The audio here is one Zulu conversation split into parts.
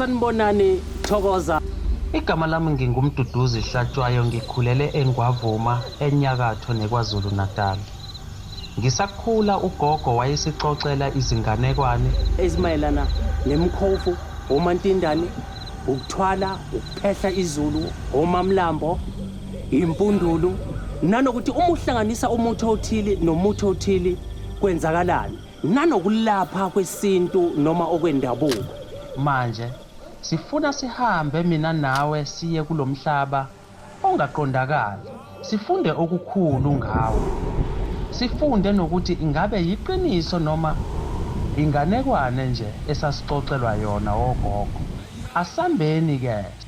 Sanibonani Thokoza. Igama lami ngingumduduzi Hlatshwayo ngikhulele eNgwavuma enyakatho neKwaZulu Natal. Ngisakhula ugogo wayesixoxela izinganekwane. Ezimayelana nemkhovu, omantindane, ukuthwala, ukuphehla izulu, omamlambo, impundulu nanokuthi uma uhlanganisa umuthi othile nomuthi othile kwenzakalani. nanokulapha kwesintu noma okwendabuko. Manje sifuna sihambe mina nawe siye kulomhlaba ongaqondakali sifunde okukhulu ngawo. Sifunde nokuthi ingabe yiqiniso noma inganekwane nje esasixoxelwa yona ogogo. Asambeni ke.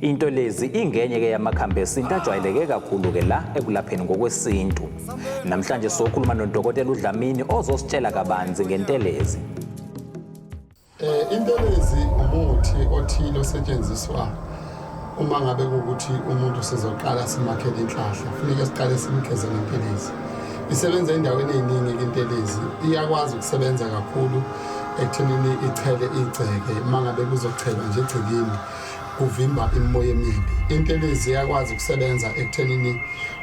Into lezi ingenye ke yamakhambi esintu ajwayeleke kakhulu ke la ekulapheni ngokwesintu. Namhlanje sokhuluma nodokotela uDlamini ozositshela kabanzi ngentelezi. Eh intelezi umuthi othile osetshenziswa uma ngabe ukuthi umuntu sizoqala simakhele inhlahla funeka siqale simgeze ngentelezi. Isebenza endaweni eziningi intelezi iyakwazi ukusebenza kakhulu ekuthenini ichele igceke uma ngabe kuzochela nje egcekeni. kuvimba imimoya emibi intelezi iyakwazi ukusebenza ekuthenini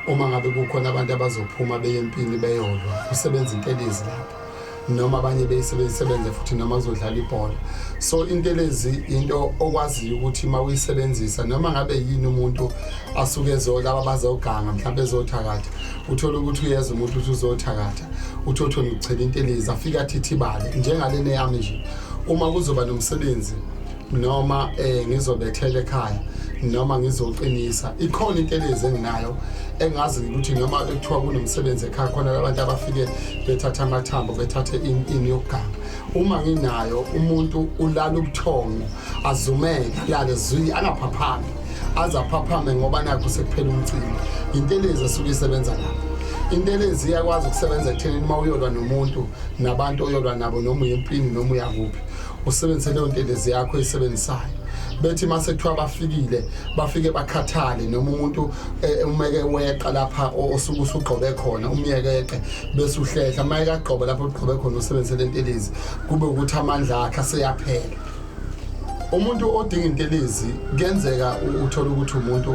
uma ngabe kukhona abantu abazophuma beye empini beyolwa kusebenza intelezi lapho noma abanye beyisebenze futhi noma kuzodlala ibhola so intelezi into okwaziyo ukuthi uma uyisebenzisa noma ngabe yini umuntu asuke ezolaba bazoganga mhlawumbe ezothakatha uthole ukuthi uyeza umuntu ukuthi uzothakatha uthi othona ukuchela intelezi afike athithibale njengalena yami nje uma kuzoba nomsebenzi noma eh ngizobethela ekhaya noma ngizoqinisa ikhona into eleze enginayo engazi ukuthi noma bekuthiwa kunomsebenzi ekhaya khona labantu abafike bethatha amathambo bethathe ini yokuganga uma nginayo umuntu ulala ubuthongo azumeke alale zwi angaphaphami azaphaphame ngoba nakho sekuphela umcimbi into eleze esuke isebenza lapho intelezi iyakwazi ukusebenza ekuthenini uma uyolwa nomuntu nabantu oyolwa nabo noma uye empini noma uyakuphi usebenzise leyo ntelezi yakho eyisebenzisayo bethi mase kuthiwa bafikile bafike bakhathale noma umuntu eh, umeke weqa lapha osuke usugqobe khona umyekeqe bese uhlehla uma ekagqoba lapho ugqobe khona usebenzise le ntelezi kube ukuthi amandla akhe aseyaphela umuntu odinga intelezi kuyenzeka uthole ukuthi umuntu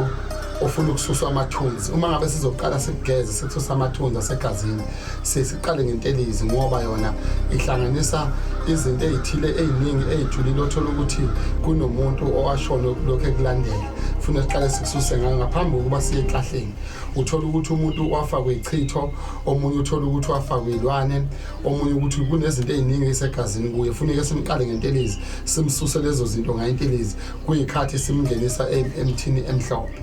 ofuna ukususa amathunzi uma ngabe sizoqala sikugeze sikususa amathunzi asegazini sesiqale ngentelizi ngoba yona ihlanganisa izinto ezithile eziningi ezijulile othola ukuthi kunomuntu owashona lokho ekulandela funa siqale sikususe ngayo ngaphambi kokuba siye eklahleni uthola ukuthi umuntu wafakwe ichitho omunye uthola ukuthi wafakwe ilwane omunye ukuthi kunezinto eziningi esegazini kuye funeke simqale ngentelizi simsuse lezo zinto ngayintelizi kuyikhathi simngenisa emthini emhlophe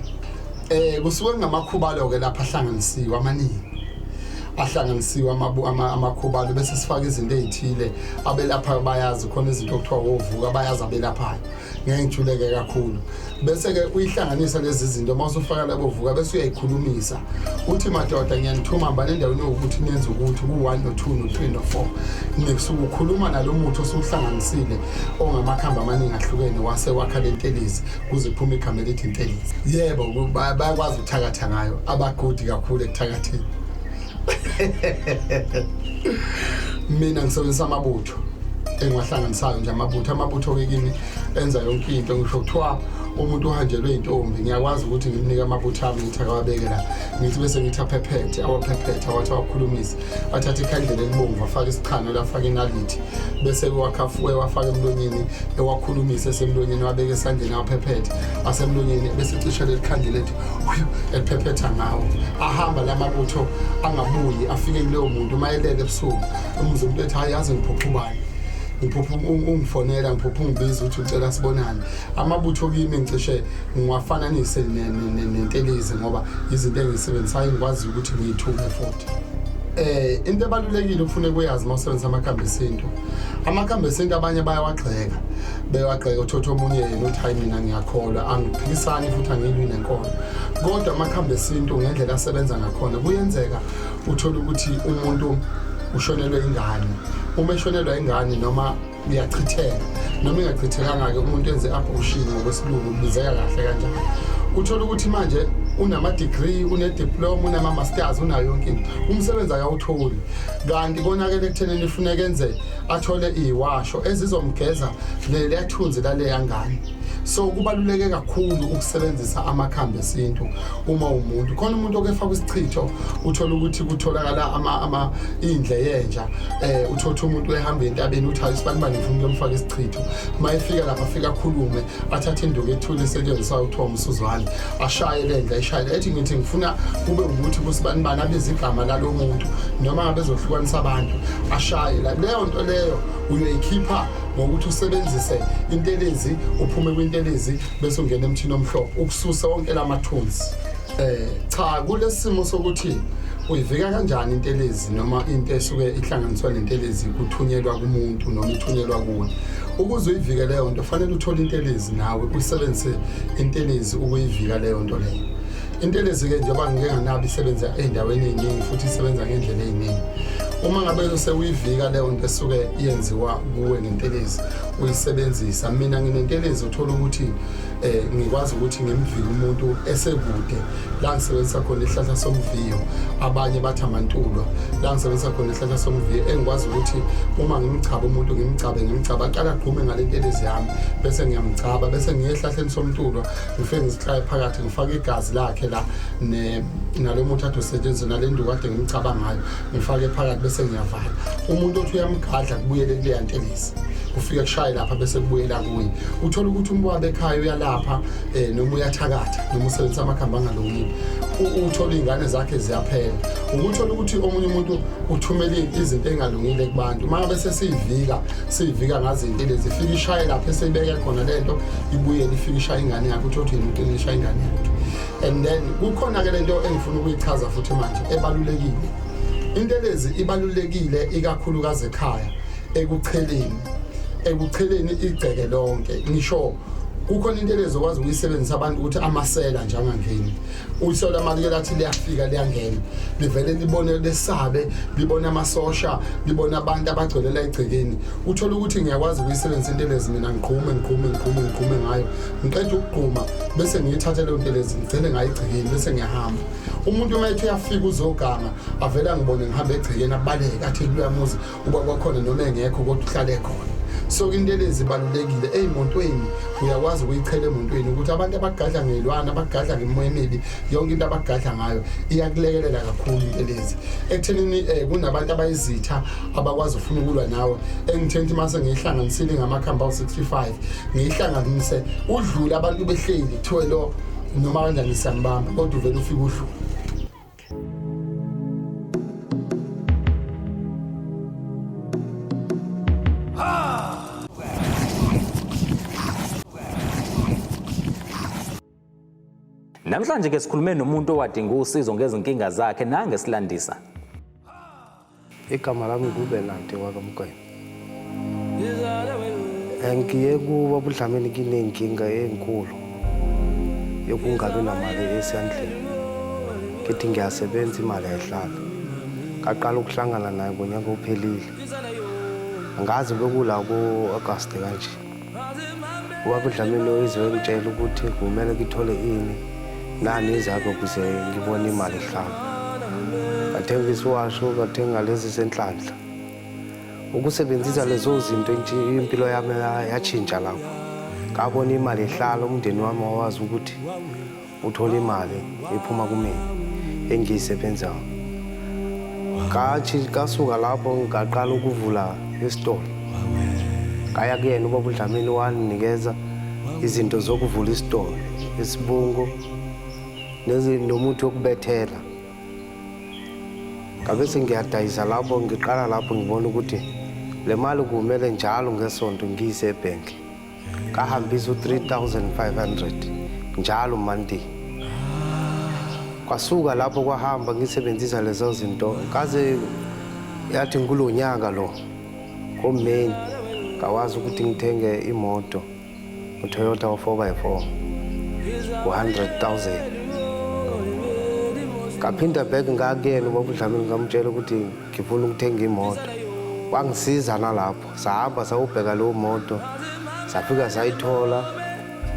Eh kusuke ngamakhubalo ke lapha ahlanganisiwe amaningi. ahlanganisiwe amabu ama- amakhubalo bese sifaka izinto ezithile abelaphayo bayazi khona izinto okuthiwa wovuka bayazi abelaphayo ngeke ngijuleke kakhulu bese ke uyihlanganisa lezi zinto uma usufaka labo vuka bese uyayikhulumisa uthi madoda ngiyanithuma hambani endaweni yokuthi nenze ukuthi ku-1 no-2 no-3 no-4 nisuke ukhuluma nalo muthi osuwuhlanganisile ongamakhamba amaningi ahlukene wase wakha lentelezi kuze kuphume igama elithi intelezi yebo bayakwazi ukuthakatha ngayo abagodi kakhulu ekuthakatheni mina ngisebenzisa amabutho engiwahlanganisayo nje amabutho amabutho-ke kimi enza yonke into ngisho kuthiwa umuntu uhanjelwe intombi ngiyakwazi ukuthi ngimnike amabutho ami ngithi akawabeke la ngithi bese ngithi aphephethe awaphephethe awathi awakhulumisi athathe ikhandlela elibomvu afake isichano elafake inalithi bese ewakhafuke ewafake emlonyeni ewakhulumise esemlonyeni wabeke esandleni awaphephethe asemlonyeni bese ecisha leli khandlela ethi "Whew," eliphephetha ngawo ahamba la mabutho angabuyi afike kuleyo muntu uma elele ebusuku umuze umuntu ethi hayi yazi ngiphupha ubani ngiphupha ung- ungifonela ngiphupha ungibiza ukuthi ucela sibonane amabutho kimi ngicishe ngiwafananise ne- ne- ne- nentelezi ngoba izinto engizisebenzisayo ngikwaziyo ukuthi ngiyithuke futhi eh into ebalulekile ufune kuyazi uma usebenzisa amakhambi esintu amakhambi esintu abanye bayawagxeka bewagxeka uthotha omunye yena uthi hayi mina ngiyakholwa angiphikisani futhi angilwi nenkolo kodwa amakhambi esintu ngendlela asebenza ngakhona kuyenzeka uthole ukuthi umuntu ushonelwe ingane uma eshonelwa ingane noma uyachitheka noma ingachithekanga-ke umuntu enze abortion ngokwesilungu kubizeka kahle kanjani uthole ukuthi manje unama-degree unediploma unama-masters unayo yonke into umsebenzi akawutholi kanti konakele ekutheneni ifuneka enze athole iyiwasho ezizomgeza leliyathunzi laleya ngane so kubaluleke kakhulu ukusebenzisa amakhambi esintu uma umuntu khona umuntu okefaka isichitho uthola ukuthi kutholakala ama ama indle yenja eh uthotha umuntu ehamba entabeni uthi ayisibani bani ngifuna ukuyomfaka isichitho mayefika lapha afika khulume athathe induku ethule esetshenziswa uThom Suzwane ashaye lendla ishaye ethi ngithi ngifuna kube ukuthi kusibani bani abiza igama lalomuntu noma ngabe zohlukanisa abantu ashaye la leyo nto leyo uyoyikhipha ngokuthi usebenzise intelezi uphume kwintelezi bese ungena emthini omhlophe ukususa wonke la mathunzi eh cha kulesimo sokuthi uyivika kanjani intelezi noma into esuke ihlanganiswa nentelezi kuthunyelwa kumuntu noma ithunyelwa kuwe ukuze uyivike leyo nto fanele uthole intelezi nawe usebenzise intelezi ukuyivika leyo nto leyo Intelezi-ke njengoba ngike nganabo isebenza ey'ndaweni ey'ningi futhi isebenza ngendlela ey'ningi uma ngabe sewuyivika leyo nto esuke yenziwa kuwe ngentelezi uyisebenzisa mina nginentelezi uthola ukuthi eh ngikwazi ukuthi ngimvike umuntu esekude la ngisebenzisa khona ihlahla somviyo abanye bathi amantulwa la ngisebenzisa khona ihlahla somviyo engikwazi ukuthi uma ngimchaba umuntu ngimchabe ngimchaba aqala agqume ngalentelezi yami bese ngiyamchaba bese ngiye ehlahleni somntulwa ngifike ngizihlaye phakathi ngifake igazi lakhe la nalo muthi athi usetshenziswe nale nduku kade ngimcabanga ngayo ngifake phakathi bese ngiyavala umuntu othi uyamgadla kubuyele kuleya ntelezi kufike kushaye lapha bese kubuyela kuye uthola ukuthi umwabe ekhaya uyalapha um noma uyathakatha noma usebenzisa amakhambi angalungile uthola iy'ngane zakhe ziyaphela ukuthola ukuthi omunye umuntu uthumele izinto ey'ngalungile kubantu uma ngabe sesiyivika siyivika ngazinto lezi ifike ishaye lapho eseyibeke khona le nto ibuyele ifike ishaye ingane yakho uthi othi ngimcele ishaye ingane yakho and then kukhona-ke le nto engifuna ukuyichaza futhi manje ebalulekile into lezi ibalulekile ikakhulukazi ekhaya ekucheleni ekucheleni igceke lonke ngisho kukhona into lezi okwazi ukuyisebenzisa abantu ukuthi amasela njengangeni uyise lama liye lathi liyafika liyangena livele libone lesabe libone amasosha libone abantu abagcwelela egcekeni uthola ukuthi ngiyakwazi ukuyisebenzisa intelezi mina ngiqhume ngiqhume ngiqhume ngiqhume ngayo ngiqeda ukugquma bese ngiyithathe leyo ntelezi ngigcine ngayo egcekeni bese ngiyahamba umuntu uma ethi uyafika uzoganga avele angibone ngihamba egcekeni abaleke athi kuyamuzi ubaba wakhona noma engekho kodwa uhlale khona so intelezi ibalulekile ey'motweni uyakwazi ukuyichela emotweni ukuthi abantu abagadla ngelwana abagadla ngemoya emibi yonke into abagadla ngayo iyakulekelela kakhulu intelezi ekuthenini um eh, kunabantu abayizitha abakwazi ukufuna ukulwa nawe engitheni ukuthi mase ngiyihlanganisile ngamakhambi awu-65 ngiyihlanganise udlule abantu behleli kuthiwe lo noma kanjani siyambamba kodwa uvele ufike udlule Namhlanje ke sikhulume nomuntu owadinga usizo ngezinkinga zakhe nangesilandisa. igama lami ngubenante wakamkwena ngiye kuba budlameni kinenkinga enkulu yokungabi namali esandleni ngithi ngiyasebenza imali ayihlali ngaqala ukuhlangana naye ngonyaka ophelile ngazi bekula ku-agasti kanje ubaba udlamini uyizwe engitshela ukuthi kumele ngithole ini nani izakho kuze ngibone imali ehlanga ngathenga isiwasho ngathenga lezi zenhlanhla ukusebenzisa lezo zinto impilo yami yatshintsha lapho ngabona imali ehlala umndeni wami wawazi ukuthi uthola imali iphuma kumina engiyisebenzayo ngathi kasuka lapho ngaqala ukuvula isitolo ngaya kuyena ubaba udlamini wanginikeza izinto zokuvula isitolo isibungu nomuthi wokubethela ngabe sengiyadayisa lapho ngiqala lapho ngibona ukuthi le mali kumele njalo ngesonto ngiyise ebhenki kahambisa u-3500 njalo monday kwasuka lapho kwahamba ngisebenzisa lezo zinto kaze yathi ngikulo nyaka lo ngomeni ngawazi ukuthi ngithenge imoto utoyota o-four by four u-hundred thousand ngaphinda back ngakuyena ubabudlamini ngamtshela ukuthi ngifuna ukuthenga imoto wangisiza nalapho sahamba sawubheka leyo moto safika sayithola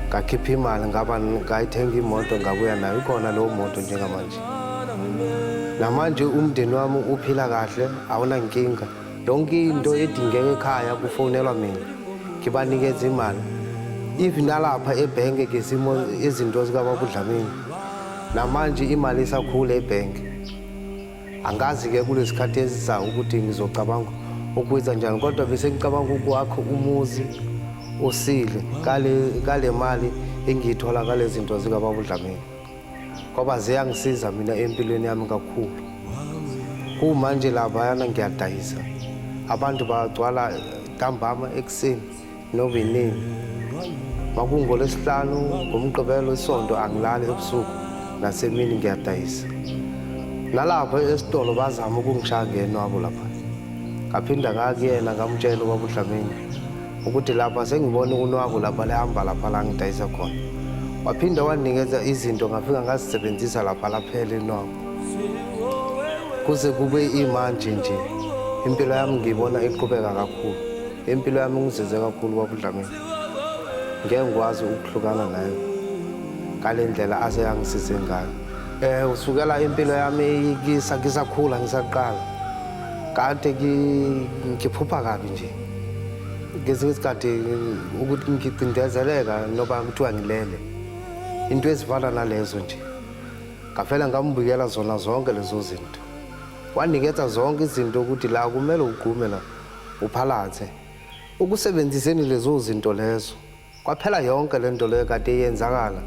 ngakhipha imali ngaba ngayithenga imoto ngabuya nayo ikhona leyo moto njengamanje namanje umndeni wami uphila kahle awunankinga yonke into edingeka ekhaya kufonelwa mina ngibanikeza imali if nalapha ebhenke ke simo izinto zikababudlamini namanje imali isakhula ebhenke Angazi-ke kulesikhathi esizayo ukuthi ngizocabanga ukwenza njani kodwa bese ngicabanga ukwakho umuzi usile kale mali engiyithola kale zinto zikababa udlamini ngoba ziyangisiza mina empilweni yami kakhulu kumanje labayana ngiyadayisa abantu bagcwala ntambama ekuseni novinini makungolwesihlanu ngomgqibelo isonto angilali ebusuku nasemini ngiyadayisa nalapho esitolo bazama ukungishaya ngenwabo lapha ngaphinda ngakuyena ngamtshela ubaba udlamini ukuthi lapha sengibona unwabo lapha lihamba lapha la ngidayisa khona waphinda wanikeza izinto ngafika ngazisebenzisa lapha laphela inwabo kuze kube imanje nje impilo yami ngiyibona iqhubeka kakhulu Impilo yami ngizizwe kakhulu kwabuDlamini. Ngeke ngikwazi ukuhlukana naye ngale ndlela ase yangisize ngayo. Eh usukela impilo yami kisa ngisakhula ngisaqala. Kade ngiphupha kabi nje. Ngezinye isikhathi ukuthi ngicindezeleka noba kuthiwa ngilele. Into ezifana nalezo nje. Ngavela ngambuyela zona zonke lezo zinto. Wanikeza zonke izinto ukuthi la kumele ugqume la. Uphalathe. Ukusebenziseni lezo zinto lezo. Kwaphela yonke le nto leyo kade yenzakala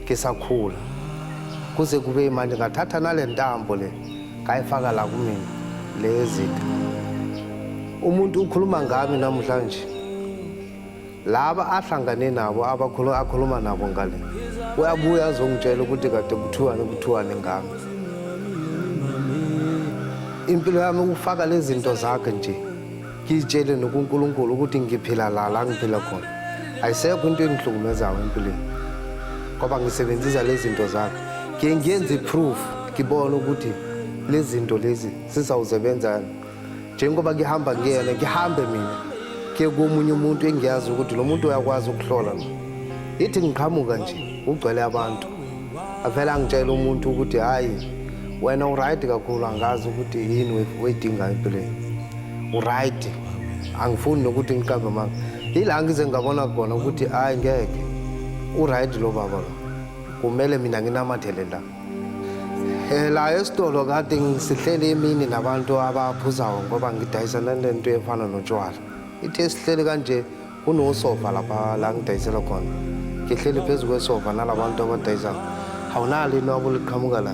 ngisakhula. Kuze kube imanje ngathatha nale ntambo le ngayifaka la kumina lezitha. Umuntu ukhuluma ngami namhlanje. laba ahlangane nabo akhuluma nabo ngale uyabuya azongitshela ukuthi kade kuthiwani kuthiwani ngami impilo yami ukufaka lezi zinto zakhe nje ngiyitshele nokunkulunkulu ukuthi ngiphila la la ngiphila khona ayisekho into engihlukumezayo empilweni ngoba ngisebenzisa lezi zinto zakhe ngiye ngiyenze i-proof ngibone ukuthi lezi zinto lezi zizawuzebenzani njengoba ngihamba ngiyena ngihambe mina ke komunye umuntu engiyazi ukuthi lo muntu uyakwazi ukuhlola lo ithi ngiqhamuka nje ugcwele abantu avele angitshela umuntu ukuthi hhayi wena uright kakhulu angazi ukuthi yini weyidingayo empilweni uright angifuni nokuthi ngiqambe manga yila ngize ngabona khona ukuthi hhayi ngeke uright lo baba lo kumele mina nginamathele la Eh, la esitolo kade sihlele imini nabantu abaphuzayo ngoba ngidayisana nento efana notshwala ithe sihlele kanje kunosofa lapha la ngidayisela khona ngihleli phezu kwesofa nalabantu abadayisayo awunalo into abo liqhamuka la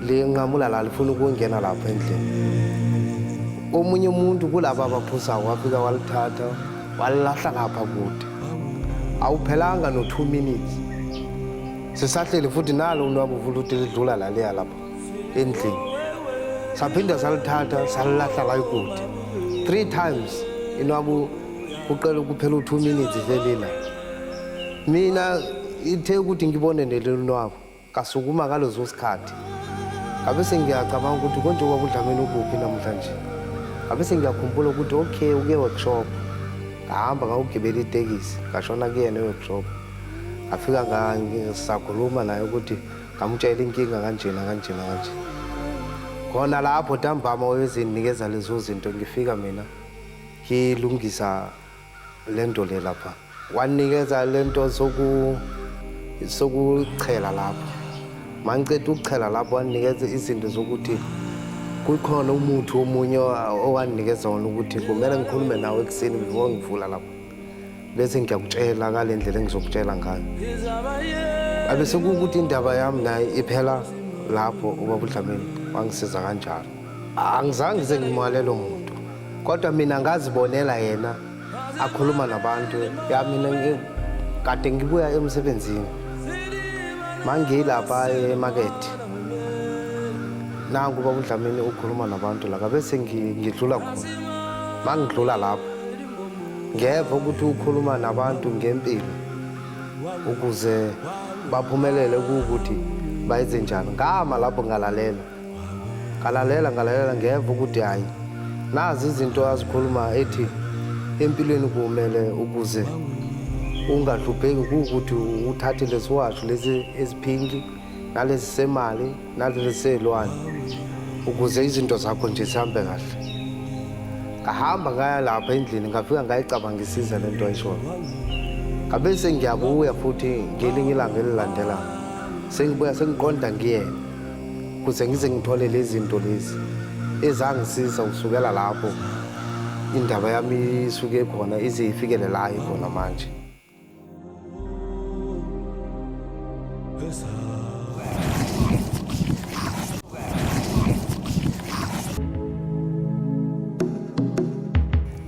linqamula la lifuna ukungena lapha endlini omunye umuntu kulaba abaphusayo wafika walithatha walilahla ngapha kude awuphelanga no-two minutes sisahleli futhi nalo unwabu vula uthi lidlula laliya lapha endlini saphinda salithatha salilahla la ikude three times inwabu kuqela ukuphela u-two minutes velila mina ithe ukuthi ngibone nelelunwabu kasukuma ngalezo sikhathi ngabe sengiyacabanga ukuthi konje kwakudlameni ukuphi namhlanje ngabe sengiyakhumbula ukuthi okay uke workshop ngahamba ngawugibela itekisi ngashona kuyena eworkshop ngafika ngisakhuluma naye ukuthi ngamutshela inkinga kanjena kanjena kanje khona lapho ntambama wayezinginikeza lezo zinto ngifika mina ngilungisa le nto le lapha wanikeza le nto sokuchela lapho mangiceda ukuchela lapho wanikeza izinto zokuthi kukhona umuthi omunye owandinikeza wona ukuthi kumele ngikhulume nawe ekuseni before ngivula lapho bese ngiyakutshela ngale ndlela engizokutshela ngayo abe sekuwukuthi indaba yami naye iphela lapho ubaba udlamini wangisiza kanjalo angizange ngize ngimalelo muntu kodwa mina ngazibonela yena akhuluma nabantu ya mina kade ngibuya emsebenzini mangiyilapha emakethe nangu ubaba udlamini ukhuluma nabantu la kabe sengidlula khona mangidlula lapho ngeva ukuthi ukhuluma nabantu ngempilo ukuze baphumelele kuwukuthi bayenze njani ngama lapho ngalalela ngalalela ngalalela ngeva ukuthi hhayi nazi izinto azikhuluma ethi empilweni kumele ukuze ungahlupheki kuwukuthi uthathe lesiwasho lesi esiphinki nalesi semali naleliselwane ukuze izinto zakho nje zihambe kahle ngahamba ngaya lapha endlini ngafika ngayicabangisisa le nto ayishoyo ngabe sengiyabuya futhi ngelinye ilanga elilandelayo sengibuya sengiqonda ngiyena kuze ngize ngithole lezi zinto lezi ezangisiza kusukela lapho indaba yami isuke khona ize ifikele la ikhona manje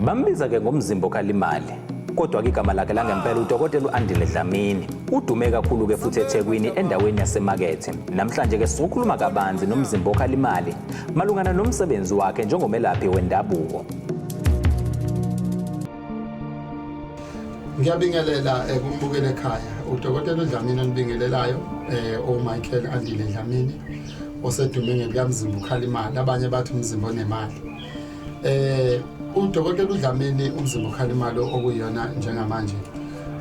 Bambiza ke ngomzimbo kalimali kodwa ke igama lakhe langempela udokotela u-andile dlamini udume kakhulu-ke futhi ethekwini endaweni yasemakethe namhlanje-ke sizokhuluma kabanzi nomzimba okhalimali malungana nomsebenzi wakhe njengomelaphi wendabuko ngiyabingelela eh, kumbukeli ekhaya udokotela udlamini onibingelelayo um eh, omichael andile dlamini osedume ngebukamzimba ukhala imali abanye bathi umzimba onemali eh udokotela udlamini umzimba ukhalimalo okuyona njengamanje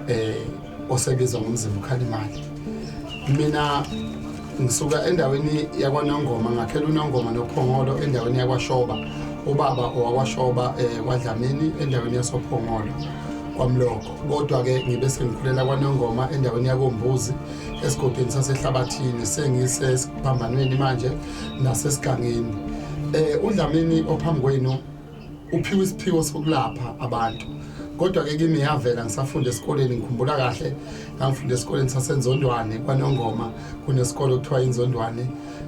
eh osebiza ngomzimba ukhalimali mina ngisuka endaweni yakwanongoma ngakhela unongoma nophongolo endaweni yakwashoba ubaba owakwashoba um eh, kwadlamini endaweni yasophongolo kwamloko kodwa-ke ngibe sengikhulela kwanongoma endaweni yakombuzi esigodini sasehlabathini sengisesiphambanweni manje nasesigangeni um udlamini ophambi kwenu uphiwe isiphiwo sokulapha abantu kodwa ke kimi yavela ngisafunda esikoleni ngikhumbula kahle ngangifunda esikoleni sasenzondwane kwanongoma kunesikole okuthiwa inzondwane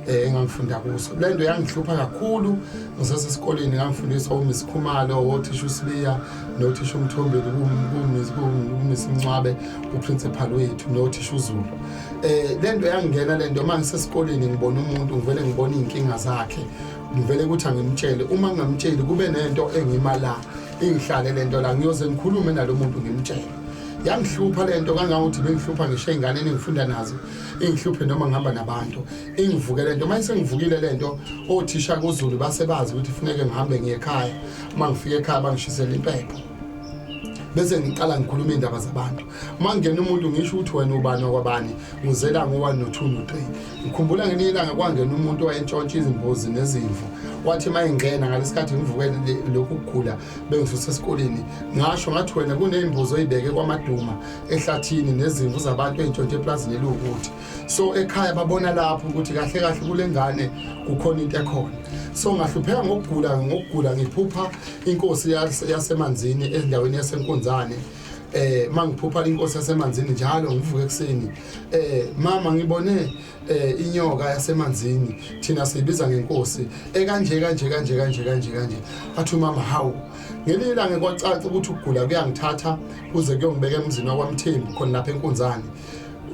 eh engangifunda kuso le nto yangihlupha kakhulu ngisesesikoleni ngangifundiswa uMiss Khumalo othisha uSibiya nothisha uMthombeni kuMiss kuMiss Mncwabe uprincipal wethu nothisha uZulu eh le nto yangingena le nto manje sesikoleni ngibona umuntu ngivele ngibona izinkinga zakhe ngivele ukuthi angimtshele uma ngingamtsheli kube nento engima la ingihlale lento la ngiyoze ngikhulume nalomuntu ngimtshele yangihlupha lento kangangokuthi bengihlupha ngisho izingane engifunda nazo ingihluphe noma ngihamba nabantu ingivuke lento manje sengivukile lento othisha kuZulu basebazi ukuthi funeke ngihambe ngiye ekhaya uma ngifika ekhaya bangishisela impepho bese ngiqala ngikhuluma indaba zabantu mangena umuntu ngisho ukuthi wena ubani wakwabani uzela ngo-one no-two no-three ngikhumbula ngelinye ilanga kwangena umuntu owayentshontsha izimbuzi nezimvu kwathi uma ingena ngalesi khathi ngivuke lokhu kugula bengisuse esikoleni ngasho ngathi wena kuney'mbuzi oyibeke kwamaduma ehlathini nezimvu zabantu ey'ntshontshe eplazini eliwukuthi so ekhaya babona lapho ukuthi kahle kahle kule ngane kukhona into ekhona so ngahlupheka ngokugula ngokugula ngiphupha inkosi yasemanzini endaweni yasenkunzane ya eh mangiphupha inkosi yasemanzini njalo ngivuke ekseni eh mama ngibone eh inyoka yasemanzini thina siyibiza ngenkosi ekanje kanje kanje kanje kanje kanje athi mama hawu ngelinye ilanga kwacaca ukuthi ukugula kuyangithatha kuze kuyongibeka emzini wakwamthembu khona lapha enkunzane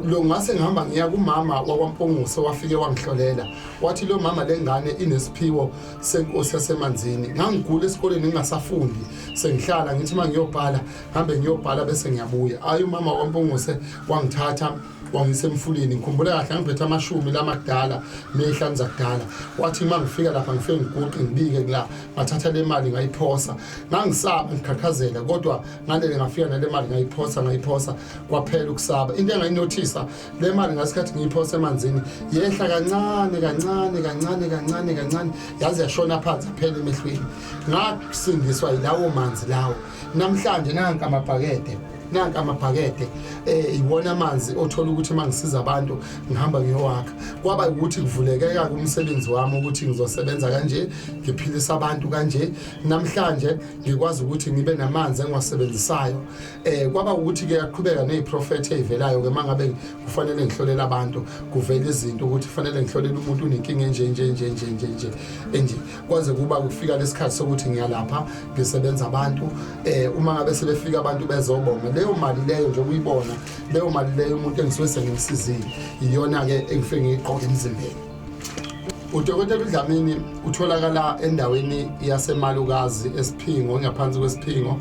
lo ngase ngihamba ngiya kumama wakwaMponguso wafike wangihlolela wathi lo mama lengane inesiphiwo senkosi yasemanzini ngangigula esikoleni ngingasafundi sengihlala ngithi uma ngiyobhala ngihambe ngiyobhala bese ngiyabuya ayi umama wampunguse wangithatha wangise emfuleni ngikhumbula kahle ngiphethe amashumi lamadala nezihlanu zakudala wathi uma ngifika lapha ngifike ngiguqe ngibike kula ngathatha le mali ngayiphosa ngangisaba ngikhathazela kodwa ngalele ngafika nale mali ngayiphosa ngayiphosa kwaphela ukusaba into engayinothisa le mali ngasikhathi ngiyiphosa emanzini yehla kancane kancane kancane kancane kancane yaze yashona phansi aphela emehlweni ngasindiswa yilawo manzi lawo namhlanje nanka amabhakede nanka amabhakede eh iwona amanzi othola ukuthi mangisiza abantu ngihamba ngiyowakha kwaba ukuthi kuvulekeka kumsebenzi wami ukuthi ngizosebenza kanje ngiphilisa abantu kanje namhlanje ngikwazi ukuthi ngibe namanzi engiwasebenzisayo eh kwaba ukuthi ke yaqhubeka neziprofeti ezivelayo ke mangabe kufanele ngihlolela abantu kuvela izinto ukuthi kufanele ngihlolela umuntu unenkinga enje enje enje enje enje enje enje kwaze kuba kufika lesikhathi sokuthi ngiyalapha ngisebenza abantu eh uma ngabe sebefika abantu bezobonga leyo mali leyo nje kuyibona leyo mali leyo umuntu engisuke sengimsizile iyona ke engifike ngiqoke emzimbeni udokotela udlamini utholakala endaweni yasemalukazi esiphingo ngaphansi kwesiphingo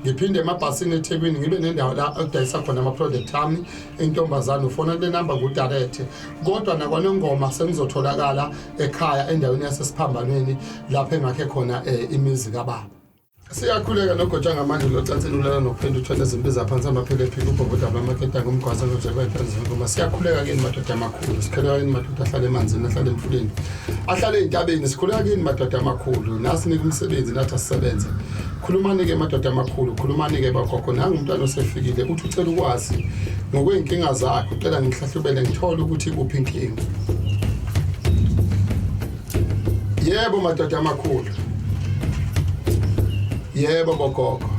ngiphinde emabhasini ethekwini ngibe nendawo la okudayisa khona ama-product ami intombazane ufona kule namba ngudarethe kodwa nakwanongoma sengizotholakala ekhaya endaweni yasesiphambanweni lapho engakhe khona um imizi kababa siyakhuleka nogotsha ngamanje locansini ulala nokuphinda uthwele izimpi zaphansi amaphele ephika ubhoboda abamaketa ngomgwaza ngojebaefanzingoma siyakhuleka kini madoda amakhulu sikhuleka kini madoda ahlale emanzini ahlale emfuleni ahlale ey'ntabeni sikhuleka kini madoda amakhulu nasinika umsebenzi nathi asisebenze khulumani-ke madoda amakhulu khulumani-ke bagogo nangu umntwana osefikile uthi ucela ukwazi ngokwey'nkinga zakhe ucela ngihlahlubele ngithole ukuthi kuphi inkinga yebo madoda amakhulu yebo bogogo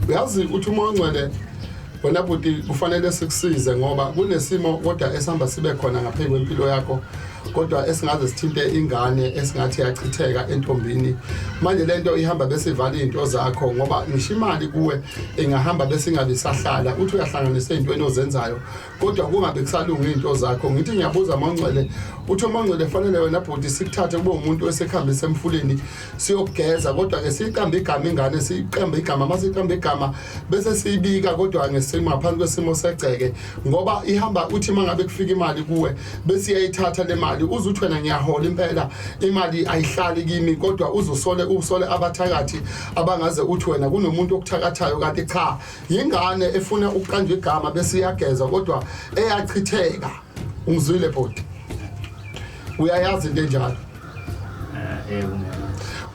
uyazi ukuthi uma ongcwele wena bhuti kufanele sikusize ngoba kunesimo kodwa esihamba sibe khona ngaphezu kwempilo yakho kodwa esingaze sithinte ingane esingathi yachitheka entombini manje lento ihamba bese ivala izinto zakho ngoba ngisho imali kuwe ingahamba bese ingabe sahlala uthi uyahlanganisa izintweni ozenzayo kodwa kungabe kusalunga izinto zakho ngithi ngiyabuza mongcwele uthi umongcwele fanele wena bhuti sikuthathe kube umuntu osekhambisa emfuleni siyogeza kodwa ke siyiqamba igama ingane siyiqamba igama uma siyiqamba igama bese siyibika kodwa ngesimo ngaphansi kwesimo segceke ngoba ihamba uthi uma ngabe kufika imali kuwe bese iyayithatha le mali uze uthi wena ngiyahola impela imali ayihlali kimi kodwa uzusole usole abathakathi abangaze uthi wena kunomuntu okuthakathayo kanti cha yingane efuna ukuqanjwa igama bese iyageza kodwa eyachitheka ungizwile bhuti uyayazi into enjalo eh, eh,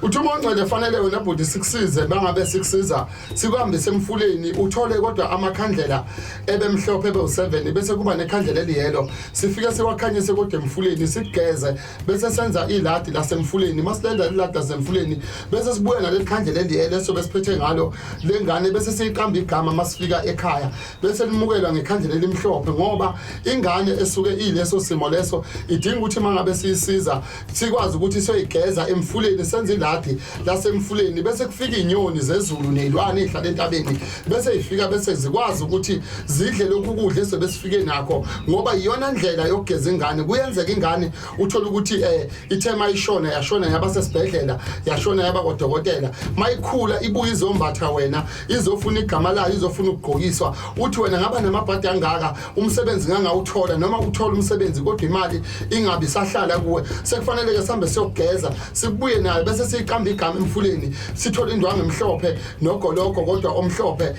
uthi uma ungcele fanele wena bhuti sikusize bangabe sikusiza sikuhambise emfuleni uthole kodwa amakhandlela ebemhlophe ebewu-7 bese kuba nekhandlela eliyelo sifike siwakhanyise kodwa emfuleni sigeze bese senza iladi lasemfuleni masilenza iladi lasemfuleni bese sibuye naleli khandlela eliyelo esobe siphethe ngalo lengane bese siyiqamba igama masifika ekhaya bese limukelwa ngekhandlela elimhlophe ngoba ingane esuke ileso simo leso idinga ukuthi mangabe siyisiza sikwazi ukuthi soyigeza emfuleni senza iladi lasemfuleni bese kufika inyoni zezulu nezilwane ezihlala entabeni bese ifika bese zikwazi ukuthi zidle lokhu kudla esebesifike nakho ngoba iyona ndlela yokugeza ingane kuyenzeka ingane uthola ukuthi eh ithe mayishona yashona yaba sesibhedlela yashona yaba kodokotela mayikhula ibuye izombatha wena izofuna igama layo izofuna ukugqokiswa uthi wena ngaba namabhadi angaka umsebenzi ngangawuthola noma uthola umsebenzi kodwa imali ingabi sahlala kuwe sekufanele ke sihambe siyogeza sibuye nayo bese siyiqamba igama emfuleni sithola indwangu emhlophe nogoloko kodwa omhlophe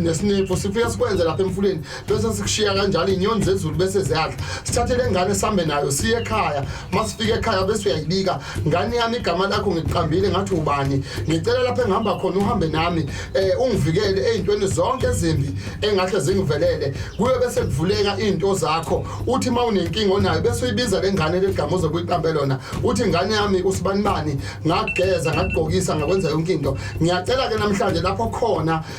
nesinephu sifika sikwenze lapha emfuleni bese sikushiya kanjalo inyoni zezulu bese ziyadla sithathe le ngane sihambe nayo siye ekhaya uma sifike ekhaya bese uyayibika ngane yami igama lakho ngiqambile ngathi ubani ngicela lapho engihamba khona uhambe nami um ungivikele ey'ntweni zonke ezimbi engahle zingivelele kuyo bese kuvuleka iy'nto zakho uthi uma unenkinga onayo bese uyibiza le ngane legama uzobe uyiqambe lona uthi ngane yami usibanibani ngageza ngagqokisa ngakwenza yonke into ngiyacela-ke namhlanje lapho khona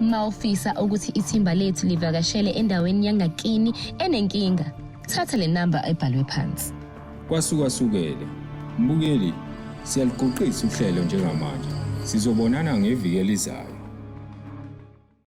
uma ufisa ukuthi ithimba lethu livakashele endaweni yangakini enenkinga thatha le namba ebhalwe phansi kwasukwasukele mbukeli siyaluguqisa uhlelo njengamanje sizobonana ngeviki elizayo